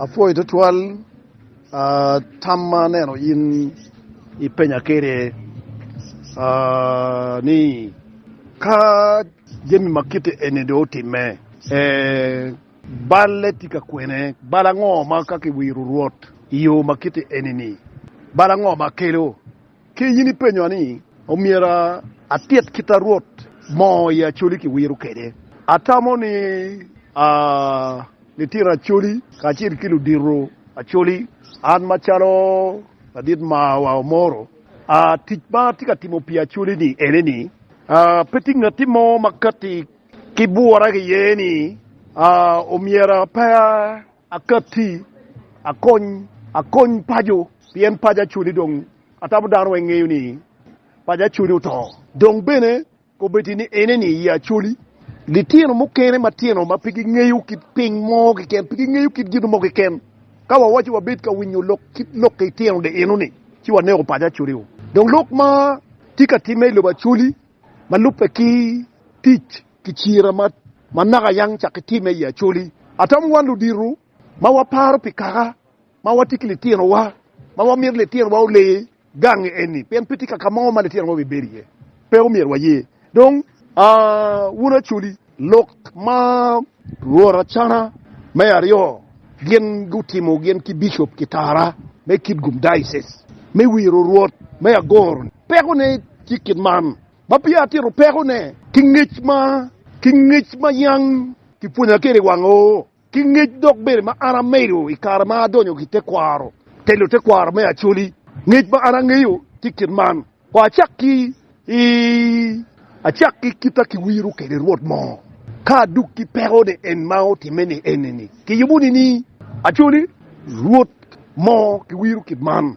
Apwoyo twatwal tam ma aneno in ipenya kwede ni, Ka jami ma kite eni dong otimme, balle tye ka kwene? Bal ango ma ka kiwiro Rwot i yo ma kite eni-ni, bal ango ma kelo? Ki in ipenyowa ni, Omyero atit kit a Rwot mo i Acoli ki wiro kwede? Atamo ni a litino Acoli kacel ki ludito Acoli, an macalo ladit marwa Omoro, a tic ma atye ka timo pi Acoli-ni ene ni, a pe tye ngatti mo ma katti ki bwora ki ye ni a omyero aper. Akatti, akony, akony paco, pien paco acoli dong atamo dano weng ngeyo ni paco acoli oto. Dong bene kobetti ni eneni i acoli. Litino mukene matino ma pe gingeyo kit piny mo keken, pe gingeyo kit gin mo keken. Ka wawaco wabed ka winyo lok kit lok ki itino de enoni, ci waneko paco acoli-o. Dong lok ma tye ka timme i lobo acoli ma lubbe ki tic. ki cira ma ma naka yang cak ki time i Acholi. Atamo wan ludito ma waparo pi kaka ma watye ki litinowa ma wamito litinowa ole gangi eni pien pe tye kaka mo ma litinowa obibedo iye. Pe omyero waye. Dong, wun Acholi, lok ma luotacana me aryo gin gutimo gin ki Bicop Kitara me Kitgum Diocese me Wiro Rwot me Agoro-ni, pekone tye kit man. ma peya atito pekone, ki ngec ma ki ngec ma yam kipwonya kwede i wang oo, ki ngec dok bene ma an amedo i kare ma adonyo ki tekwaro, telo tekwaro me Acholi, ngec ma an angeyo tye kit man, Wa acak ki i, acak ki kita ki wiro kwede Rwot mo, ka aduk ki pekone en ma otimme ni eni-ni, kiyubo nini, Acholi, Rwot mo ki wiro kit man?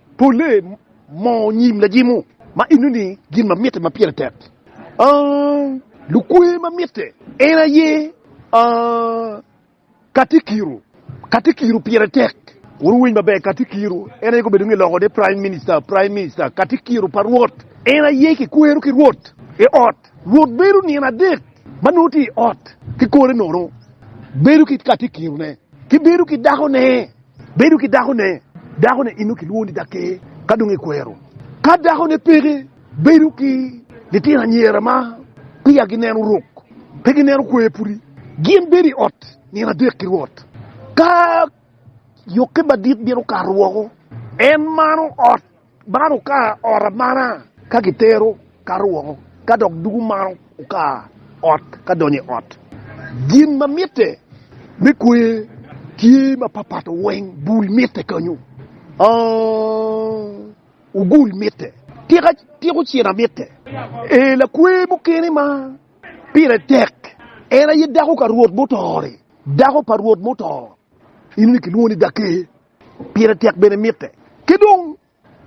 Polle moo nyim lajimo ma enoni gin ma mitte ma pire tek aah lukwe ma mitte en aye aah katikiro katikiro pire tek wuru winy maber katikiro en aye gubedo nge loko ne prime minister prime minister katikiro pa rwot en aye kikwero ki rwot i ot rwot bedo nino adek ma nongo tye i ot ki kore nono bedo ki katikiro ne ki bedo ki dako ne. Bedo ki dakone. Dakone eno kilwongo ni daker ka dong ekwero. Ka dakone peke, bedo ki litino anyira ma peya gineno rok, pe gineno kwer pudi. Gin bedo i ot nino adek ki Rwot. Ka yokke madit bino kato woko, en mano ot. Man okar ot amana ka kitero kato woko, ka dok dugo man okar ot ka donyo i ot. Gin ma mitte me kwer tye mapapato weng, bul mitte kanyo, ogul mitte, tiko cina mitte. Ee, lakwer mukene ma pire tek en aye dako ka Rwot muto-ni, dako pa Rwot muto, eno ni kilwongo ni Dake. Pire tek bene mitte. Ki dong,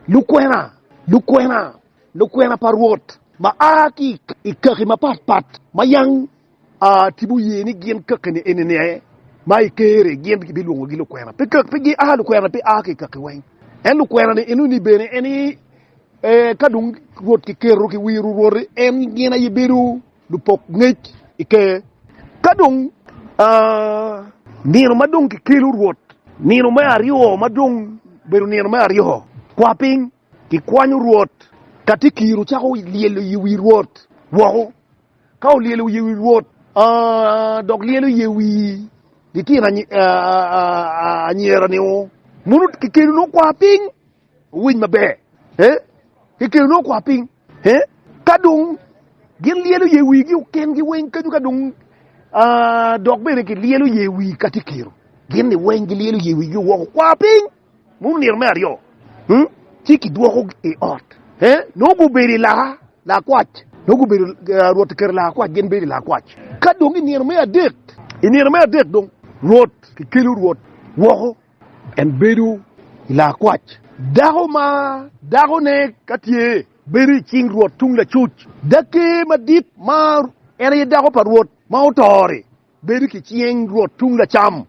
lukwena, lukwena, lukwena pa Rwot ma a ki i kaki mapat pat ma yang a tipo ye ni gin kakeni enini aye ma i Ker-ri gin kibilwongogi lukwena, pe kaki, pe gia lukwena pe a ki i kaki weng. En lukwena-ni enoni bene en aye, ee, ka dong Rwot kiketo ki wiro Rwot-ri, en gin aye bedo lupok ngec i Ker. Ka dong nino ma dong kikelo Rwot, nino me aryo ma dong bedo nino me aryo kwa piny, kikwanyo Rwot. Ka tye kiro cako lyelo i wi Rwot woko, ka olyelo i wi Rwot dok lyelo i wi litino anyira-ni, mono kikelo nongo kwa piny owiny maber. Ka dong gin lyelo ye wigi oken gi weng kenyo ka dong dok bene ki lyelo ye wi ka ti kiro gin ni weng gi lyelo ye wigi woko kwa piny mu niro me aryo hmm? ci ki dwoko i ot eh? no gubedo i laka lakwac no gubedo uh, rwot kero laka kwac gin bedo i laka kwac ka dong i nino me adek i nino me adek dong rwot ki kelo rwot woko En bedo i laa kwac. Dako ma dakone ka tye bedo i cing rwot tung lacuc. Dake madit ma en aye dako pa rwot ma oto-ri bedo ki cing rwot tung lacam.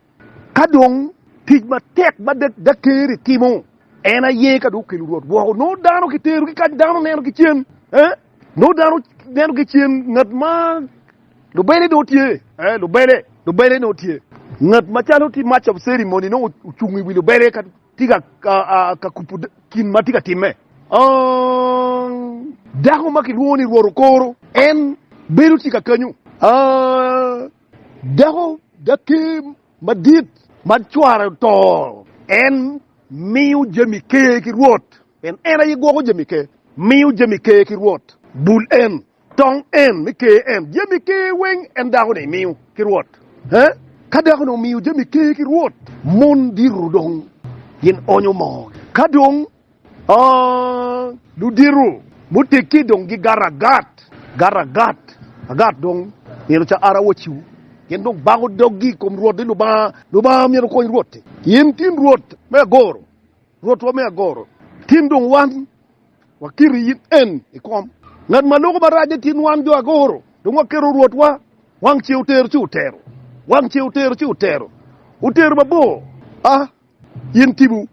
Ka dong tic matek ma dake-ri timo en aye ka dong okelo rwot woko. Nongo dano kitero ki kany, dano neno ki cen, nongo dano neno ki cen ngat ma Lubele dong tye, ee, lubele, lubele dong tye. Ngat macalo ti Master of Ceremony nongo ocung i wi lubele ka ti ka, ka, ka kupu kin ma ti ka timme. Aang! Dako ma kilwongo ni Rwot Okoro, en bedo ti kakenyu. Aang! Dako, Daker madit ma cware oto, en miyo jami ker ki Rwot, pien en aye gwoko jami ker. Miyo jami ker ki Rwot. Bul en. Tong en me ker en jami ker weng en dako ni miyo ki rwot he? Ka dako ni omiyo jami ker ki rwot, mon diro dong gin onyo moo gi. Ka dong ludiro gutegi dong gi gato agat, gato agat agat dong myero ca ara waciu gin dong bako dog gi ikom rwot ni Lubanga, Lubanga myero okony rwot ni in tin rwot me agoro, rwotwa me agoro tin dong wan. Wakiti in en i kom. Ngat ma loko marac-ce tye nwan jo agoro, dong waketo Rwotwa. Wang ce otero ci otero, wang ce otero ci otero, otero mabor. A In tipo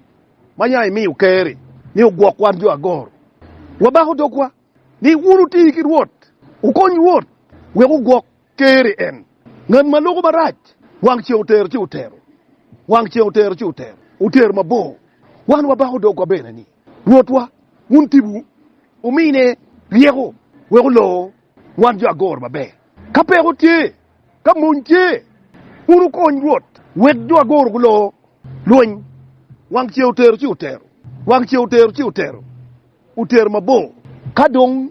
ma nya imiyo Ker-ri ni ogwok wan jo agoro, wabako dogwa ni wun wuti ki Rwot, wukony Rwot wek ogwok Teri en. Ngat ma loko marac. Wang ceng otero ci otero. Wang ceng otero ci otero. Otero mabor. Wan wabako dogwa bene ni, Rwotwa, wun tibu, wumine ryeko wek olor wan jo agor maber. Ka peko tye, ka mony tye, wun wukony Rwot wek jo agor gulor lweny. Wang ceng otero ci otero. Wang ceng otero ci otero. Otero mabor. Ka dong.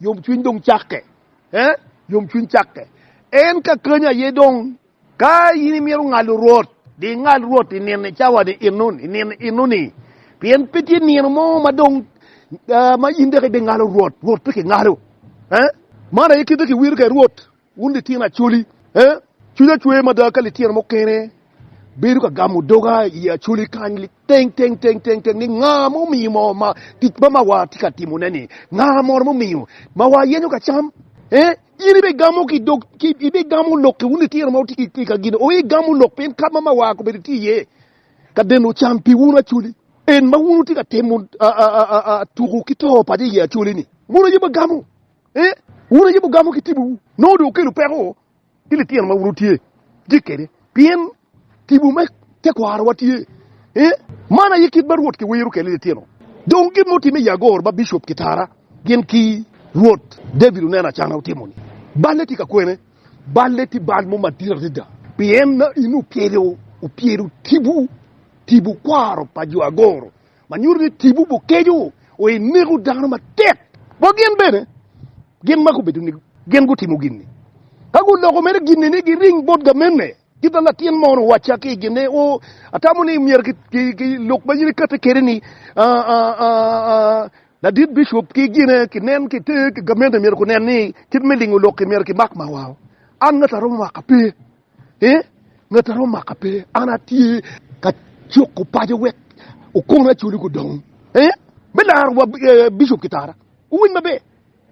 Yomcwiny dong cakke. Ee, yomcwiny cakke. En ka kany aye dong. Ka in imito ngalo Rwot, di ingal Rwot i nino, i cawa-ni, i nino eno-ni. Pien pe tye nino mo ma dong, ma in dok ibingalo Rwot. Rwot pe kingalo. Ee, man aye kite kiwiro kwede Rwot. Wun litino acholi, cwinya cwer mada ka litino mukene bedo ka gamo doga i acholi kany liteng teng teng teng teng ni nga ma omiyo mo ma tic ma ma watye ka timone-ni, nga mono mumiyo ma wayenyo ka cam? In ibigamo ki dog, ibigamo lok-ki, wun litino ma wutye ki ka gin, ooh, igamo lok pien kadi ma ma wa kobedo tye iye ka deno can pi wun acholi. En ma wun wutye ka timo tuku ki to paco i ye acholi-ni, mono aye wagamo? Ee, wun ayubo gamo ki tibuwu, nongo dong okelo peko ki litino ma wun wutye kwede, pien tibu me tekwarowa tye. Ee, man aye kit ma Rwot kiwiro kwede litino. Dong gin ma otimme i agor ma bicop kitara gin ki Rwot David oneno acana otimo-ni. Balle tye ka kwene, balle tye bal mo madit adada, pien in opyelo tibu, tibu kwaro pa jo agoro. ma nyuto ni tipo bukeco o i neko dano matek bot gin bene. Gin ma gubedo ni gin gutimo gin-ni, ka guloko mere gin-ni ni giring bot gamenne, kit ma latin moni owacca ki i gin-ne, O, atamo ni myero lok ma in ikatti kwede-ni, ladit bicop ki gine, kinen ki te, gamenne myero gunen ni kit me lingo lok-ki myero kimak mawao. An ngati aromo maka? Pe! Ee, ngat a romo maka pe, an atye ka cuko paco wek okona acoli gudong. Ee, me laro wa Bicop Kitara, wuwiny maber,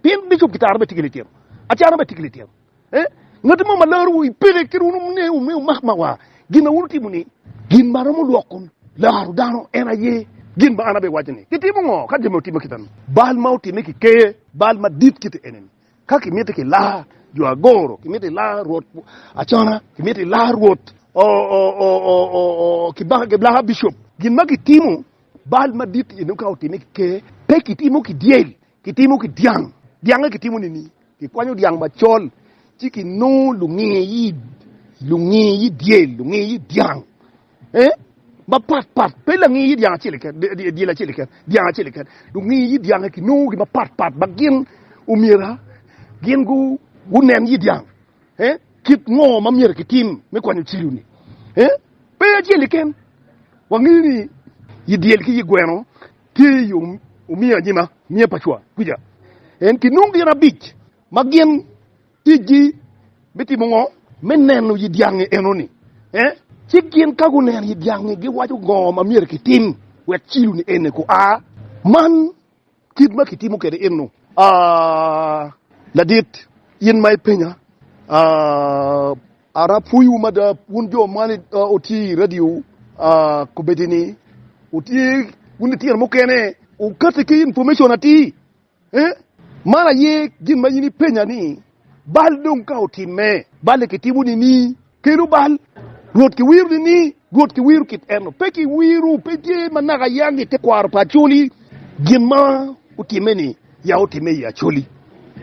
pien Bicop Kitara bene tye ki litino, Acana bene tye ki litino. Ee, ngat mo ma larowu i pele kit wun wume wumak ma wa gin ma wun wutimo ni, Gin ma romo lwoko laro dano en aye gin ma an abiwaco ni, Kitimo ngo ka gin ma wutimo kit-ta-ni? Bal ma otime ki ker, bal madit kite ene-ni, Ka kimiti ki laa jo agoro, kimiti laa rwot acona, kimiti laa rwot ki laa bicop. Gin ma kitimo bal madit eno ka otime ki ker, pe kitimo ki dyel, kitimo ki dyang. Dyange kitimo nini? Kikwanyo dyang macol ci kinongo lunge yi dyel, lunge yi dyang. Eh, mapat pat, pe langi yit dyang acel keken, dy- dy- dyel acel keken, dyang acel keken. Lungi yit dyange kinongo gi mapat pat ma gin omyera gin gu, gunen yit dyang. Eh, kit ngo ma myera kitim me kwanyo cilo-ni? Eh, pe acel keken. Wangeyo ni yit dyel ki yit gweno tye i yo omiyo anyima, miya pa cwa kuca. En kinongo gin abic ma gin Ticgi me timo ngo? Me neno yi dyangi enoni. Eh? Ci gin ka guneno yi dyangi giwaco ngo ma myero kitim wek ciloni ene ku a. Man kit ma kitimo kede eno. Ah, ladit, in ma ipenya, ah, ara pwoyiwu mada wun jo ma wutye yi radio ah, kobedini wutye wun litino mukene, wukati ki information atir. Ee, man aye gin ma in ipenya ni, Bal dong ka otimme? Bal-li kitimo nining? Kelu bal. Rwot kiwiro nining? Rwot kiwiro kit eno. Pe kiwiro, pe tye ma naka yang i tekwaro pa Acholi gin ma otimme-ni, ya otimme i Acholi.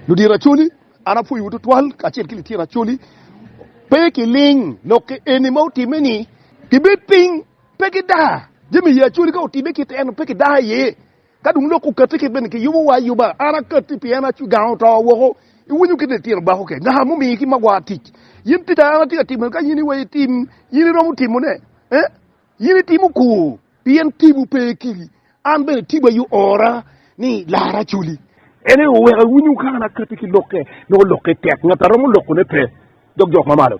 Ludito Acholi, an apwoyowu twatwal kacel ki litino Acholi. Pe kiling lok eni ma otimme-ni. Gibed piny, pe gidaa. Jami i Acholi ka otimme kit eno, pe gidaa iye. Ka dong lok okatti kit bene kiyubo wa ayuba, an akatti pien acu gang oto woko, iwinyo kit litino bako kec, naka mumiyo ki magwar tic. Yin tic a an atye ka timo ni ka yin iweyo itim, yin iromo timo ne? Eh? Yin itimo kor, pien tipo pe kili. An bene tipo aye oora ni lara acoli. En aye oweka iwinyo ka an akatti ki lokke, nongo lokke tek, ngat a romo loko ne pe, dok jok mamalo.